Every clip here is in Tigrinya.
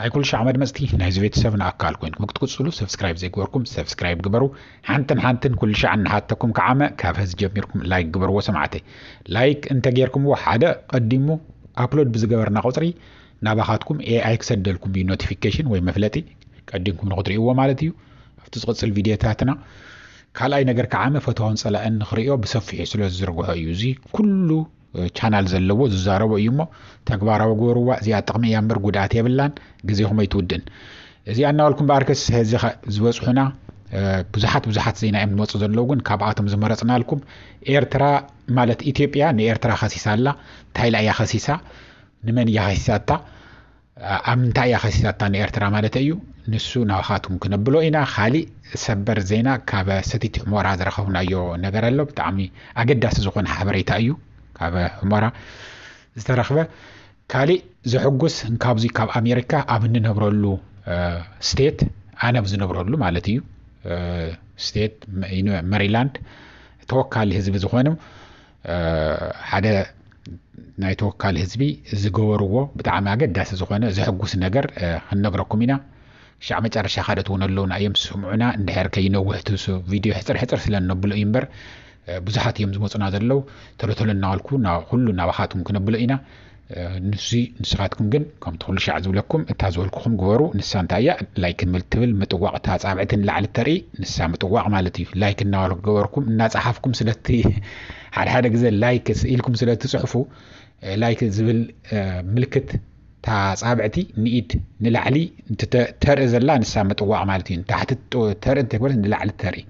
ናይ ኩልሻዕ መድመጽቲ ናይዚ ቤተሰብና ኣካል ኮይንኩም ክትቅጽሉ ሰብስክራይብ ዘይግበርኩም ሰብስክራይብ ግበሩ ሓንትን ሓንትን ኩልሻዕ እናሓተኩም ክዓመ ካብ ሀዚ ጀሚርኩም ላይክ ግበርዎ ሰማዕተይ ላይክ እንተ ጌርኩምዎ ሓደ ቀዲሙ ኣፕሎድ ብዝገበርና ቁጽሪ ናባኻትኩም ኤኣይ ክሰደልኩም እዩ ኖቲፊኬሽን ወይ መፍለጢ ቀዲምኩም ንክትርእይዎ ማለት እዩ ኣብቲ ዝቕጽል ቪድዮታትና ካልኣይ ነገር ክዓመ ፈተዋን ጸላእን ንክርእዮ ብሰፊሑ ስለ ዝዝርግሖ እዩ እዚ ኩሉ ቻናል ዘለዎ ዝዛረቦ እዩ እሞ ተግባራዊ ግበርዋ እዚኣ ጥቕሚ እያ እምበር ጉድኣት የብላን ግዜኹም ኣይትውድን እዚኣ እናበልኩም በኣርከስ ሕዚ ዝበፅሑና ብዙሓት ብዙሓት ዜና እዮም ዝመፁ ዘለዉ ግን ካብኣቶም ዝመረፅናልኩም ኤርትራ ማለት ኢትዮጵያ ንኤርትራ ከሲሳ ኣላ እንታይ ኢላ እያ ከሲሳ ንመን እያ ከሲሳታ ኣብ ምንታይ እያ ከሲሳታ ንኤርትራ ማለተይ እዩ ንሱ ናባኻትኩም ክነብሎ ኢና ካሊእ ሰበር ዜና ካብ ሰቲት ህሞራ ዝረኸብናዮ ነገር ኣሎ ብጣዕሚ ኣገዳሲ ዝኾነ ሓበሬታ እዩ ካብ ህሞራ ዝተረኽበ ካሊእ ዘሕጉስ ካብዙይ ካብ ኣሜሪካ ኣብ እንነብረሉ ስቴት ኣነ ኣብ ዝነብረሉ ማለት እዩ ስቴት መሪላንድ ተወካሊ ህዝቢ ዝኾነ ሓደ ናይ ተወካሊ ህዝቢ ዝገበርዎ ብጣዕሚ ኣገዳሲ ዝኾነ ዘሕጉስ ነገር ክንነግረኩም ኢና ሻዕ መጨረሻ ካልኦት እውን ኣለውና እዮም ስምዑና እንድሕር ከይነውሕ ትሱ ቪድዮ ሕፅር ሕፅር ስለ እነብሎ እዩ እምበር ብዙሓት እዮም ዝመፁና ዘለው ተሎ ተሎ እናበልኩ ኩሉ ናባኻትኩም ክነብሎ ኢና ንዙይ ንስኻትኩም ግን ከምቲ ኩሉ ሻዕ ዝብለኩም እታ ዝበልኩኹም ግበሩ ንሳ እንታይ እያ ላይክ ትብል ምጥዋቕ እታ ኣጻብዕቲ ንላዕሊ እተርኢ ንሳ ምጥዋቕ ማለት እዩ ላይክ እናገበርኩም እናጸሓፍኩም ስለቲ ሓደ ሓደ ግዜ ላይክ ኢልኩም ስለትጽሕፉ ላይክ ዝብል ምልክት እታ ጻብዕቲ ንኢድ ንላዕሊ ተርኢ ዘላ ንሳ ምጥዋቕ ማለት እዩ ንታሕቲ ተርኢ እንተግበረት ንላዕሊ ተርኢ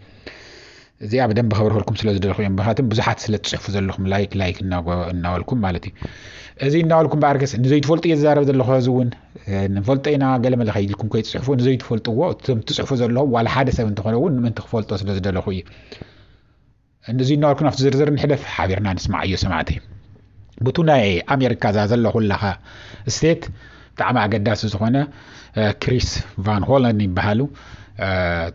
እዚኣ ብደንቢ ከብርሀልኩም ስለ ዝደለኹ እዮም ምክንያቱም ብዙሓት ስለ ትጽሕፉ ዘለኹም ላይክ ላይክ እናበልኩም ማለት እዩ እዚ እናበልኩም በኣርከስ ንዘይትፈልጡ እየ ዝዛረብ ዘለኹ እዚ እውን ንፈልጦ ኢና ገለ መለ ከይልኩም ከይትጽሕፉ ንዘይትፈልጥዎ እቶም ትጽሕፉ ዘለኹም ዋላ ሓደ ሰብ እንተኾነ እውን ንምንቲ ክፈልጦ ስለ ዝደለኹ እዩ እዚ እናበልኩም ኣብቲ ዝርዝር ንሕደፍ ሓቢርና ንስማዕ እዮ ሰማዕተይ ቡቱ ናይ ኣሜሪካ እዛ ዘለኹላኻ ስቴት ብጣዕሚ ኣገዳሲ ዝኾነ ክሪስ ቫን ሆለን ይበሃሉ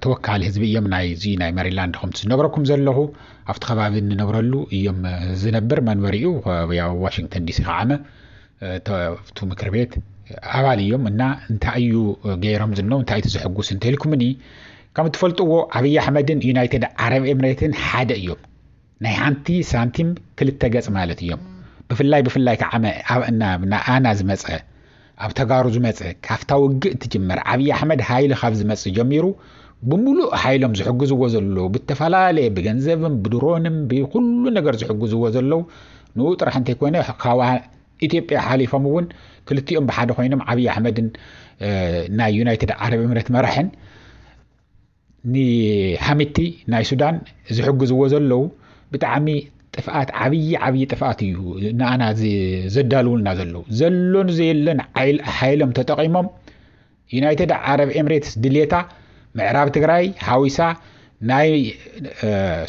ተወካሊ ህዝቢ እዮም ናይዚ ናይ መሪላንድ ከምቲ ዝነግረኩም ዘለኹ ኣብቲ ከባቢ እንነብረሉ እዮም ዝነብር መንበሪኡ ያው ዋሽንግተን ዲሲ ከዓመ እቱ ምክር ቤት ኣባል እዮም እና እንታይ እዩ ገይሮም ዝነው እንታይ እቲ ዘሕጉስ እንተልኩምኒ ከም እትፈልጥዎ ኣብዪ ኣሕመድን ዩናይትድ ዓረብ ኤምሬትን ሓደ እዮም ናይ ሓንቲ ሳንቲም ክልተ ገጽ ማለት እዮም ብፍላይ ብፍላይ ክዓ ናኣና ዝመጸ ኣብ ተጋሩ ዝመጸ ካፍታ ውግእ ትጅመር ዓብይ ኣሕመድ ሃይሊ ካብ ዝመጽ ጀሚሩ ብሙሉእ ሓይሎም ዝሕግዝዎ ዘለዉ ብተፈላለየ ብገንዘብም ብድሮንም ብኩሉ ነገር ዝሕግዝዎ ዘለዉ ንኡ ጥራሕ እንተይኮነ ካብ ኢትዮጵያ ሓሊፎም እውን ክልቲኦም ብሓደ ኮይኖም ዓብይ ኣሕመድን ናይ ዩናይትድ ዓረብ እምረት መራሕን ንሓምቲ ናይ ሱዳን ዝሕግዝዎ ዘለዉ ብጣዕሚ ጥፍኣት ዓብዪ ዓብዪ ጥፍኣት እዩ ንኣና ዘዳልውልና ዘለዉ ዘሎን ዘየለን ሓይሎም ተጠቒሞም ዩናይትድ ዓረብ ኤምሬትስ ድሌታ ምዕራብ ትግራይ ሓዊሳ ናይ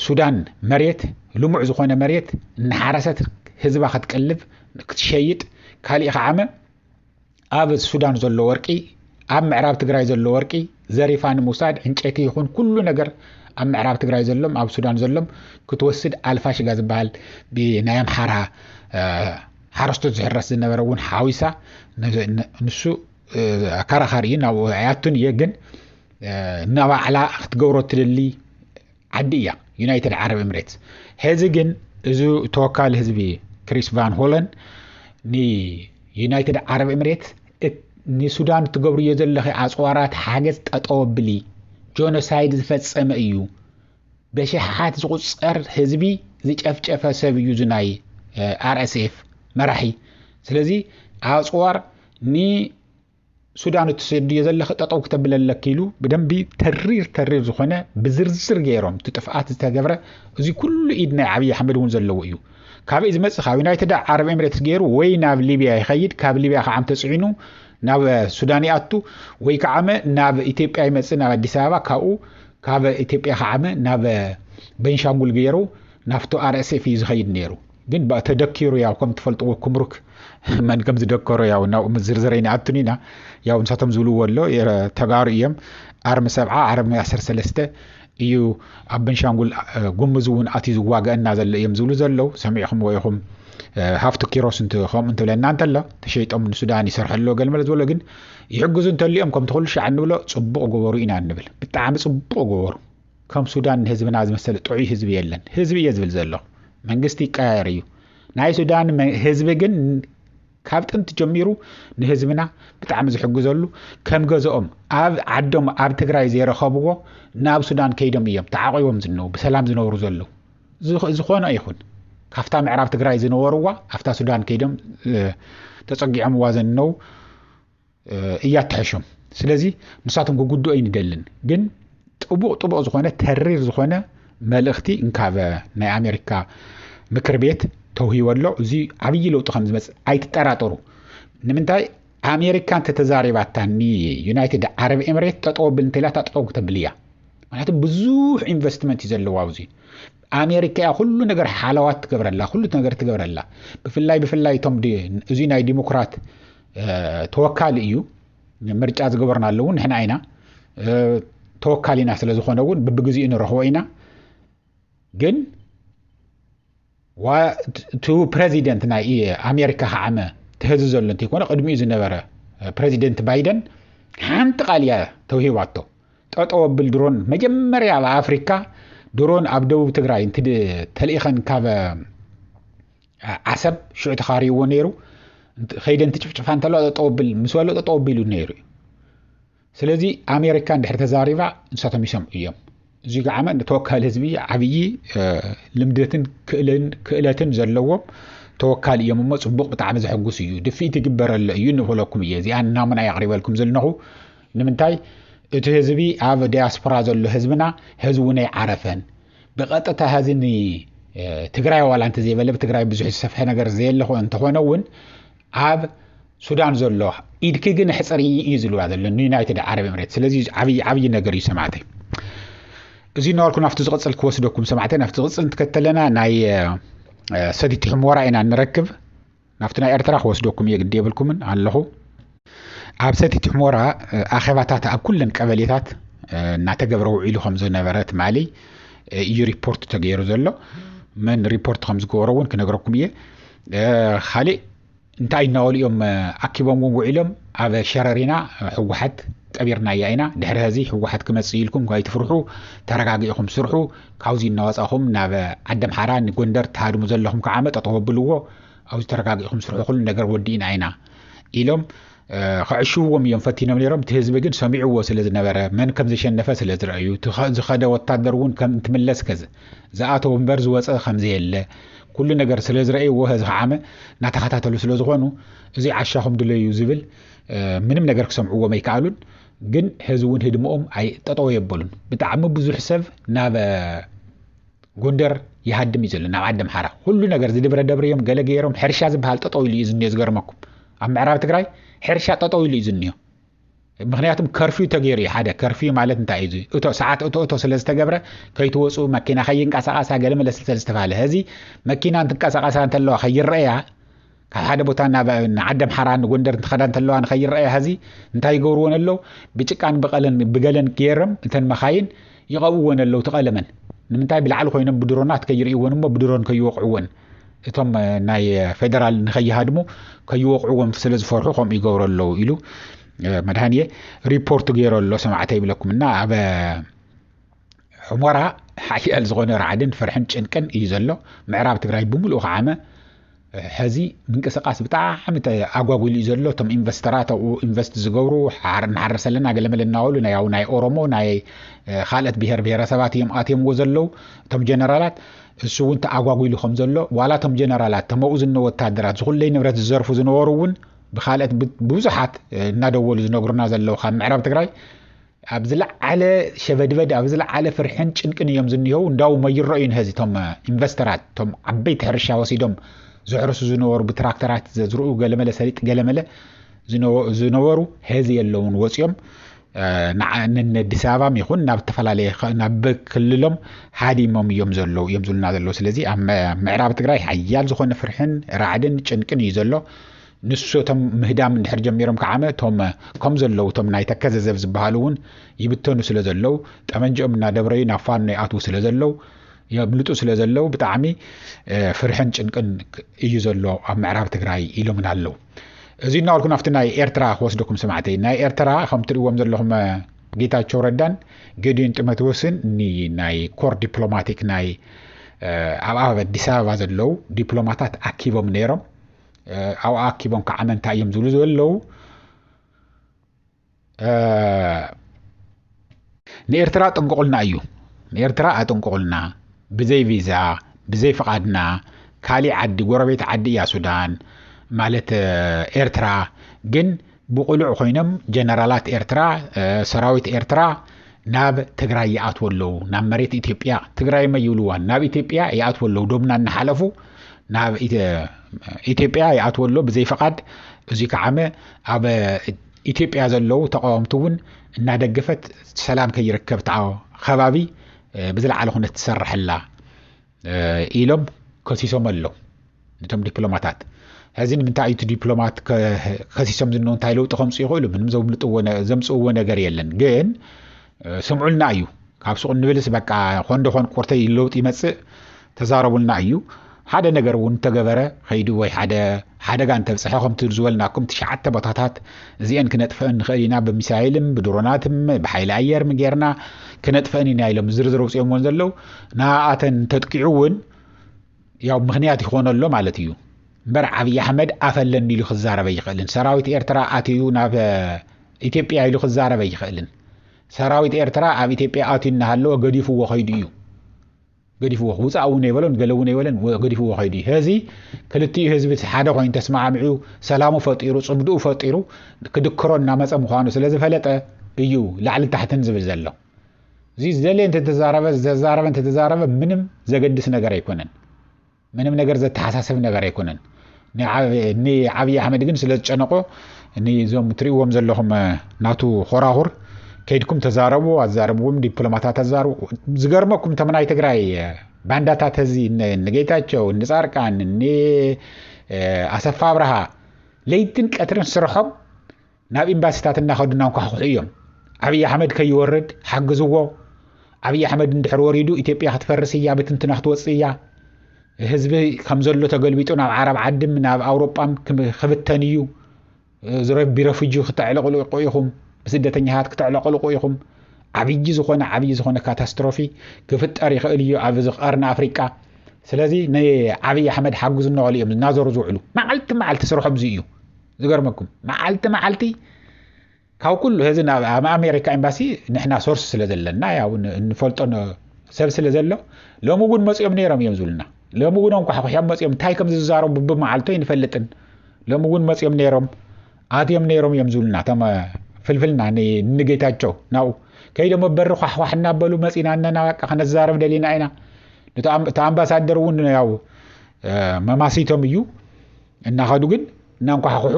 ሱዳን መሬት ልሙዕ ዝኾነ መሬት እናሓረሰት ህዝባ ክትቅልብ ክትሸይጥ ካሊእ ከዓመ ኣብ ሱዳን ዘሎ ወርቂ ኣብ ምዕራብ ትግራይ ዘሎ ወርቂ ዘሪፋ ንምውሳድ ዕንጨይቲ ይኹን ኩሉ ነገር ኣብ ምዕራብ ትግራይ ዘሎም ኣብ ሱዳን ዘሎም ክትወስድ ኣልፋሽጋ ዝበሃል ብናይ ኣምሓራ ሓረስቶት ዝሕረስ ዝነበረ እውን ሓዊሳ ንሱ ኣከራኻሪ እዩ ናብ ኣያቱን እየ ግን ናባዕላ ክትገብሮ ትደሊ ዓዲ እያ ዩናይትድ ዓረብ ኤምሬትስ። ሄዚ ግን እዚ ተወካሊ ህዝቢ ክሪስ ቫን ሆለን ንዩናይትድ ዓረብ ኤምሬትስ ንሱዳን እትገብርዮ ዘለኺ ኣፅዋራት ሓገዝ ጠጠው ኣብሊ ጆኖሳይድ ዝፈፀመ እዩ በሽሓት ዝቁፀር ህዝቢ ዝጨፍጨፈ ሰብ እዩ ዝናይ ኣርኤስኤፍ መራሒ ስለዚ ኣፅዋር ን ሱዳን እትሰድዮ ዘለኺ ጠጠው ክተብል ኣለኪ ኢሉ ብደንቢ ተሪር ተሪር ዝኾነ ብዝርዝር ገይሮም እቲ ጥፍኣት ዝተገብረ እዚ ኩሉ ኢድ ናይ ዓብዪ ኣሕመድ እውን ዘለዎ እዩ ካበይ ዝመፅእ ካብ ዩናይትድ ዓረብ ኤምሬትስ ገይሩ ወይ ናብ ሊብያ ይኸይድ ካብ ሊብያ ከዓ ተፅዒኑ ናብ ሱዳን ይኣቱ ወይ ከዓመ ናብ ኢትዮጵያ ይመፅእ ናብ ኣዲስ ኣበባ ካብኡ ካብ ኢትዮጵያ ከዓመ ናብ ቤንሻንጉል ገይሩ ናብቲ ኣርኤስኤፍ እዩ ዝኸይድ ነይሩ ግን ብኣ ተደኪሩ ያው ከም ትፈልጥዎ ኩምሩክ መን ከም ዝደከሮ ያው ናብ ዝርዝረይ ንኣትን ኢና ያው ንሳቶም ዝብልዎ ኣሎ ተጋሩ እዮም ኣርሚ ሰብዓ ዓረብ ናይ ዓሰርተ ሰለስተ እዩ ኣብ በንሻንጉል ጉምዝ እውን ኣትዩ ዝዋገአና ዘሎ እዮም ዝብሉ ዘለው ሰሚዕኹምዎ ኢኹም ሃፍቲ ኪሮስ እንት ከምኡ እንትብለና እንተሎ ተሸይጦም ንሱዳን ይሰርሐ ኣለዎ ገልመለ ዝበሎ ግን ይሕግዙ እንተልኦም ከምቲ ኩሉ ሻዕ እንብሎ ፅቡቕ ጎበሩ ኢና እንብል ብጣዕሚ ፅቡቕ ጎበሩ ከም ሱዳን ንህዝብና ዝመሰለ ጥዑይ ህዝቢ የለን ህዝቢ እየ ዝብል ዘለኹ መንግስቲ ይቀያየር እዩ ናይ ሱዳን ህዝቢ ግን ካብ ጥንቲ ጀሚሩ ንህዝብና ብጣዕሚ ዝሕግዘሉ ከም ገዝኦም ኣብ ዓዶም ኣብ ትግራይ ዘይረኸብዎ ናብ ሱዳን ከይዶም እዮም ተዓቂቦም ዝነው ብሰላም ዝነብሩ ዘለዉ ዝኾነ ይኹን ካብታ ምዕራብ ትግራይ ዝነበርዋ ኣብታ ሱዳን ከይዶም ተፀጊዖምዋ ዘነው እያ ትሐሾም ስለዚ ንሳቶም ክጉድኡ ኣይንደልን ግን ጥቡቕ ጥቡቕ ዝኾነ ተሪር ዝኾነ መልእኽቲ እንካበ ናይ ኣሜሪካ ምክር ቤት ተውሂቦ ኣሎ እዚ ዓብዪ ለውጢ ከም ዝመፅእ ኣይትጠራጠሩ ንምንታይ ኣሜሪካ እንተተዛሪባታ ንዩናይትድ ዓረብ ኤምሬት ጠጠው ብል እንተኢላ እታ ጠጠው ክተብል እያ ምክንያቱ ብዙሕ ኢንቨስትመንት እዩ ዘለዎ ኣብዚ ኣሜሪካ እያ ኩሉ ነገር ሓለዋት ትገብረላ ኩሉ ነገር ትገብረላ ብፍላይ ብፍላይ እቶም እዚ ናይ ዲሞክራት ተወካሊ እዩ ምርጫ ዝገበርናሉ እውን ንሕና ኢና ተወካሊና ስለ ዝኾነ እውን ብብግዜኡ ንረኽቦ ኢና ግን እቲ ፕረዚደንት ናይ ኣሜሪካ ከዓመ ተህዚ ዘሎ እንተይኮነ ቅድሚኡ ዝነበረ ፕረዚደንት ባይደን ሓንቲ ቃል እያ ተውሂባቶ ጠጠው ኣብል ድሮን መጀመርያ ኣብ ኣፍሪካ ድሮን ኣብ ደቡብ ትግራይ ተልኢኸን ካብ ዓሰብ ሽዑ ተኻሪዎ ነይሩ ከይደን ትጭፍጭፋ እንተለዋ ጠጠው ብል ምስ በሎ ጠጠው ቢሉ ነይሩ እዩ ስለዚ ኣሜሪካ እንድሕር ተዛሪባ ንሳቶም ይሰምዑ እዮም እዚ ገዓመ ተወካሊ ህዝቢ ዓብዪ ልምደትን ክእለትን ዘለዎም ተወካሊ እዮም እሞ ፅቡቅ ብጣዕሚ ዘሐጉስ እዩ ድፍኢት ይግበረሎ እዩ ንበለኩም እየ እዚኣ ናሙና የቕሪበልኩም ዘለኹ ንምንታይ እቲ ህዝቢ ኣብ ዲያስፖራ ዘሎ ህዝብና ህዝቡ ናይ ዓረፈን ብቐጥታ ሀዚ ንትግራይ ዋላ እንተዘይበለ ብትግራይ ብዙሕ ዝሰፍሐ ነገር ዘየለ እንተኾነ እውን ኣብ ሱዳን ዘሎ ኢድኪ ግን ሕፅር እዩ ዝልዋ ዘሎ ንዩናይትድ ዓረብ ኤምሬት ስለዚ ዓብዪ ዓብዪ ነገር እዩ ሰማዕተይ እዚ ነበርኩ ናብቲ ዝቕፅል ክወስደኩም ሰማዕተይ ናብቲ ዝቕፅል እንትከተለና ናይ ሰቲት ሕሞራ ኢና ንረክብ ናብቲ ናይ ኤርትራ ክወስደኩም እየ ግዲ የብልኩምን ኣለኹ። ኣብ ሰቲት ሕሞራ ኣኼባታት ኣብ ኩለን ቀበሌታት እናተገብረ ውዒሉ ከም ዝነበረ ትማሊ እዩ ሪፖርት ተገይሩ ዘሎ መን ሪፖርት ከም ዝገበሮ እውን ክነግረኩም እየ ካሊእ እንታይ እናበሉ እዮም ኣኪቦም እውን ውዒሎም ኣብ ሸረሪና ህወሓት ቀቢርናያ ኢና ድሕሪ ሀዚ ህወሓት ክመፅእ እዩ ኢልኩም ኣይትፍርሑ ተረጋጊእኹም ስርሑ ካብዚ እናወፃኹም ናብ ዓደምሓራ ንጎንደር ትሃድሙ ዘለኹም ከዓ መጠጠው ኣብልዎ ኣብዚ ተረጋጊእኹም ስርሑ ኩሉ ነገር ወዲእና ኢና ኢሎም ከዕሽውዎም እዮም ፈቲኖም ነይሮም እቲ ህዝቢ ግን ሰሚዕዎ ስለ ዝነበረ መን ከም ዘሸነፈ ስለ ዝረአዩ ዝኸደ ወታደር እውን ከም እንትምለስ ከ ዝኣተው እምበር ዝወፀ ከም ዘየለ ኩሉ ነገር ስለ ዝረእይዎ ህዚ ከዓመ እናተኸታተሉ ስለ ዝኾኑ እዚ ዓሻኹም ድለዩ ዝብል ምንም ነገር ክሰምዕዎም ኣይከኣሉን ግን ሕዚ እውን ህድሞኦም ኣይ ጠጠው የበሉን ብጣዕሚ ብዙሕ ሰብ ናብ ጎንደር ይሃድም እዩ ዘሎ ናብ ዓዲ ኣምሓራ ኩሉ ነገር ዝድብረ ደብሪ እዮም ገለ ገይሮም ሕርሻ ዝበሃል ጠጠው ኢሉ እዩ ዝኒዮ ዝገርመኩም ኣብ ምዕራብ ትግራይ ሕርሻ ጠጠው ኢሉ እዩ ዝኒዮ ምክንያቱም ከርፍዩ ተገይሩ እዩ ሓደ ከርፍዩ ማለት እንታይ እዩ እቶ ሰዓት እቶ እቶ ስለ ዝተገብረ ከይትወፁ መኪና ከይንቀሳቀሳ ገለ መለስ ስለዝተባሃለ ህዚ መኪና እንትንቀሳቀሳ እንተለዋ ከይረአያ ካብ ሓደ ቦታ ናብ ንዓደምሓራ ንጎንደር እንትኸዳ እንተለዋ ንኸይረኣያ ሀዚ እንታይ ይገብርዎን ኣለው ብጭቃን ብቐለን ብገለን ገይረም እተን መኻይን ይቐብዎን ኣለው ትቐለመን ንምንታይ ብላዕሊ ኮይኖም ብድሮናት ከይርእይዎን እሞ ብድሮን ከይወቕዕዎን እቶም ናይ ፌደራል ንኸይሃድሙ ከይወቕዕዎም ስለ ዝፈርሑ ከምኡ ይገብሩ ኣለዉ ኢሉ መድሃንየ ሪፖርቱ ገይሩ ኣሎ ሰማዕተ ይብለኩም እና ኣብ ሕሞራ ሓያል ዝኾነ ራዕድን ፍርሕን ጭንቅን እዩ ዘሎ ምዕራብ ትግራይ ብምሉኡ ከዓመ ሕዚ ምንቅስቃስ ብጣዕሚ ኣጓጒሉ እዩ ዘሎ እቶም ኢንቨስተራት ኣብኡ ኢንቨስት ዝገብሩ ንሓርስ ኣለና ገለመለ እናበሉ ናይ ኣብ ናይ ኦሮሞ ናይ ካልኦት ብሄር ብሄረሰባት እዮም ኣትየምዎ ዘለዉ እቶም ጀነራላት እሱ እውን ተኣጓጒሉ ከም ዘሎ ዋላ እቶም ጀነራላት ተመኡ ዝነ ወታደራት ዝኩለይ ንብረት ዝዘርፉ ዝነበሩ እውን ብካልኦት ብዙሓት እናደወሉ ዝነግሩና ዘለዉ ካብ ምዕራብ ትግራይ ኣብ ዝለዓለ ሸበድበድ ኣብ ዝለዓለ ፍርሕን ጭንቅን እዮም ዝኒሀው እንዳውም ኣይረእዩን ሀዚ እቶም ኢንቨስተራት እቶም ዓበይቲ ሕርሻ ወሲዶም ዘሕርሱ ዝነበሩ ብትራክተራት ዘዝርኡ ገለመለ ሰሊጥ ገለመለ ዝነበሩ ሀዚ የለውን ወፂኦም ንኣዲስ ኣበባም ይኹን ናብ ዝተፈላለየ ናብ ክልሎም ሃዲሞም እዮም ዘለዉ እዮም ዝብሉና ዘለዉ ስለዚ ኣብ ምዕራብ ትግራይ ሓያል ዝኾነ ፍርሕን ራዕድን ጭንቅን እዩ ዘሎ ንሱ እቶም ምህዳም እንድሕር ጀሚሮም ከዓመ እቶም ከም ዘለዉ እቶም ናይ ተከዘዘብ ዝበሃሉ እውን ይብተኑ ስለ ዘለዉ ጠመንጅኦም እናደብረዩ ናብ ፋኖ ይኣትዉ ስለ ዘለዉ የምልጡ ስለ ዘለዉ ብጣዕሚ ፍርሕን ጭንቅን እዩ ዘሎ ኣብ ምዕራብ ትግራይ ኢሎምና ኣለዉ እዚ እናበልኩ ናብቲ ናይ ኤርትራ ክወስደኩም ሰማዕተይ ናይ ኤርትራ ከም ትርእዎም ዘለኹም ጌታቸው ረዳን ገዲዮን ጢሞቴዎስን እኒ ናይ ኮር ዲፕሎማቲክ ናይ ኣብ ኣዲስ ኣበባ ዘለዉ ዲፕሎማታት ኣኪቦም ነይሮም ኣብኣ ኣኪቦም ክዓመ እንታይ እዮም ዝብሉ ዘለዉ ንኤርትራ ጥንቁቕልና እዩ ንኤርትራ ኣጥንቁቕልና ብዘይ ቪዛ ብዘይ ፍቓድና ካሊእ ዓዲ ጎረቤት ዓዲ እያ ሱዳን ማለት ኤርትራ ግን ብቑሉዕ ኮይኖም ጀነራላት ኤርትራ ሰራዊት ኤርትራ ናብ ትግራይ ይኣትዎ ኣለዉ ናብ መሬት ኢትዮጵያ ትግራይ መ ይብልዋን ናብ ኢትዮጵያ ይኣትዎ ኣለዉ ዶብና እናሓለፉ ናብ ኢትዮጵያ ይኣትዎ ኣሎ ብዘይ ፍቓድ እዚ ከዓመ ኣብ ኢትዮጵያ ዘለዉ ተቃወምቲ እውን እናደገፈት ሰላም ከይርከብ ተዓ ከባቢ ብዝለዓለ ኩነት ትሰርሐላ ኢሎም ከሲሶም ኣለው ነቶም ዲፕሎማታት ሕዚ ንምንታይ እዩ እቲ ዲፕሎማት ከሲሶም ዝንሆ እንታይ ለውጢ ከምፁ ይኽእሉ ምንም ዘምልጥዎ ዘምፅእዎ ነገር የለን ግን ስምዑልና እዩ ካብ ሱቕ ንብልስ በቃ ኮን ደኾን ኮርተይ ለውጢ ይመፅእ ተዛረቡልና እዩ ሓደ ነገር እውን ተገበረ ከይዱ ወይ ሓደ ሓደጋ እንተብፀሐ ከምቲ ዝበልናኩም ትሽዓተ ቦታታት እዚኤን ክነጥፈእን ንኽእል ኢና ብሚሳይልን ብድሮናትን ብሓይሊ ኣየርን ጌርና ክነጥፈእን ኢና ኢሎም ዝርዝር ኣውፅኦምዎን ዘለው ንኣተን ተጥቂዑ እውን ያው ምክንያት ይኾኖ ኣሎ ማለት እዩ እምበር ዓብዪ ኣሕመድ ኣፍ ኣለኒ ኢሉ ክዛረብ ኣይኽእልን ሰራዊት ኤርትራ ኣትዩ ናብ ኢትዮጵያ ኢሉ ክዛረብ ኣይኽእልን ሰራዊት ኤርትራ ኣብ ኢትዮጵያ ኣትዩ እናሃለወ ገዲፍዎ ከይዱ እዩ ገዲፍዎ ውፃእ እውን ኣይበሎን ገለ እውን ኣይበለን ገዲፍዎ ከይዱ እዩ ሀዚ ክልቲኡ ህዝቢ እቲ ሓደ ኮይኑ ተስማዕሚዑ ሰላሙ ፈጢሩ ፅምድኡ ፈጢሩ ክድክሮ እናመፀ ምዃኑ ስለ ዝፈለጠ እዩ ላዕሊ ታሕትን ዝብል ዘሎ እዚ ዝደለየ እንተተዛረበ ዝተዛረበ እንተተዛረበ ምንም ዘገድስ ነገር ኣይኮነን ምንም ነገር ዘተሓሳስብ ነገር ኣይኮነን ንዓብዪ ኣሕመድ ግን ስለ ዝጨነቆ ንዞም ትሪእዎም ዘለኹም ናቱ ኾራኹር ከይድኩም ተዛረቡ ኣዛረብዎም ዲፕሎማታት ኣዛርቡ ዝገርመኩም ተም ናይ ትግራይ ባንዳታት እዚ ንጌታቸው ንፃርቃን ንኣሰፋ ኣብርሃ ለይትን ቀትርን ስርሖም ናብ ኢምባሲታት እናኸዱ እናንኳሕኩሑ እዮም። ኣብይ ኣሕመድ ከይወርድ ሓግዝዎ፣ ኣብይ ኣሕመድ እንድሕር ወሪዱ ኢትዮጵያ ክትፈርስ እያ፣ ብትንትና ክትወፅእ እያ፣ ህዝቢ ከም ዘሎ ተገልቢጡ ናብ ዓረብ ዓድም ናብ ኣውሮጳም ክብተን እዩ፣ ቢረፍጂ ክተዕለቕሉ ኢኹም፣ ብስደተኛታት ክተዕለቕልቑ ኢኹም፣ ዓብዪ ዝኾነ ዓብዪ ዝኾነ ካታስትሮፊ ክፍጠር ይኽእል እዩ ኣብ ቀርኒ ኣፍሪቃ ስለዚ ንዓብዪ ኣሕመድ ሓግዙ እናበሉ እዮም እናዞሩ ዝውዕሉ መዓልቲ መዓልቲ ስርሖም እዚ እዩ ዝገርመኩም መዓልቲ መዓልቲ ካብ ኩሉ እዚ ናብ ኣሜሪካ ኤምባሲ ንሕና ሶርስ ስለ ዘለና ያው እንፈልጦ ሰብ ስለ ዘሎ ሎሚ እውን መፅኦም ነይሮም እዮም ዝብሉና ሎሚ እውን ኣንኳሕኩሖም መፅኦም እንታይ ከም ዝዛረቡ ብመዓልቶ ይንፈልጥን ሎሚ እውን መፅኦም ነይሮም ኣትዮም ነይሮም እዮም ዝብሉና እቶም ፍልፍልና ንጌታቸው ናብኡ ከይዶሞ በሪ ኳሕኳሕ እናበሉ መፂና እነና በቃ ከነዛረብ ደሊና ኢና እቲ ኣምባሳደር እውን ያው መማሲቶም እዩ እናኸዱ ግን እናንኳሕኩሑ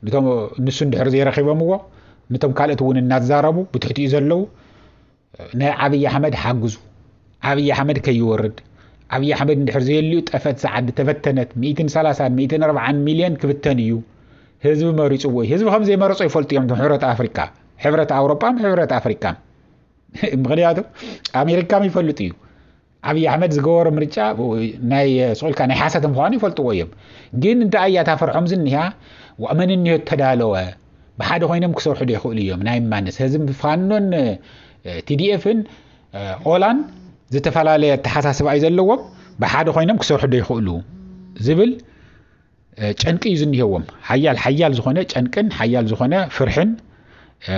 ንቶም ንሱ እንድሕር ዘይረኺቦምዎ ንቶም ካልኦት እውን እናዛረቡ ብትሕቲኡ ዘለዉ ናይ ዓብዪ ኣሕመድ ሓግዙ ዓብዪ ኣሕመድ ከይወርድ ዓብዪ ኣሕመድ እንድሕር ዘየልዩ ጠፈት ሰዓዲ ተበተነት ሚእትን ሰላሳን ሚእትን ኣርባዓን ሚልዮን ክብተን እዩ ህዝቢ መሪፅዎ እዩ ህዝቢ ከም ዘይመረፆ ይፈልጡ እዮም ሕብረት ኣፍሪካ ሕብረት ኣውሮጳን ሕብረት ኣፍሪካን ምክንያቱ ኣሜሪካ ይፈልጡ እዩ ኣብይ ኣሕመድ ዝገበሮ ምርጫ ናይ ስቁልካ ናይ ሓሰት ምዃኑ ይፈልጥዎ እዮም ግን እንታይ እያ እታ ፈርሖም ዝኒሃ መን እኒሆ ተዳለወ ብሓደ ኮይኖም ክሰርሑ ዶ ይኽእሉ እዮም ናይ ማንስ ህዝቢ ፋኖን ቲዲኤፍን ኦላን ዝተፈላለየ ኣተሓሳስባ እዩ ዘለዎም ብሓደ ኮይኖም ክሰርሑ ዶ ይኽእሉ ዝብል ጨንቂ እዩ ዝኒሄዎም ሓያል ሓያል ዝኾነ ጨንቅን ሓያል ዝኾነ ፍርሕን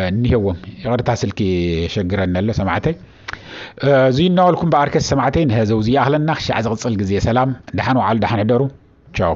እኒሄዎም ይቕርታ ስልኪ የሸግረኒ ኣሎ ሰማዕተይ እዚ እናበልኩም በኣርከስ ሰማዕተይ ንህዘው እዚ ይኣኽለና ክሻዕ ዝቕፅል ግዜ ሰላም ደሓን ወዓሉ ደሓን ሕደሩ ቻው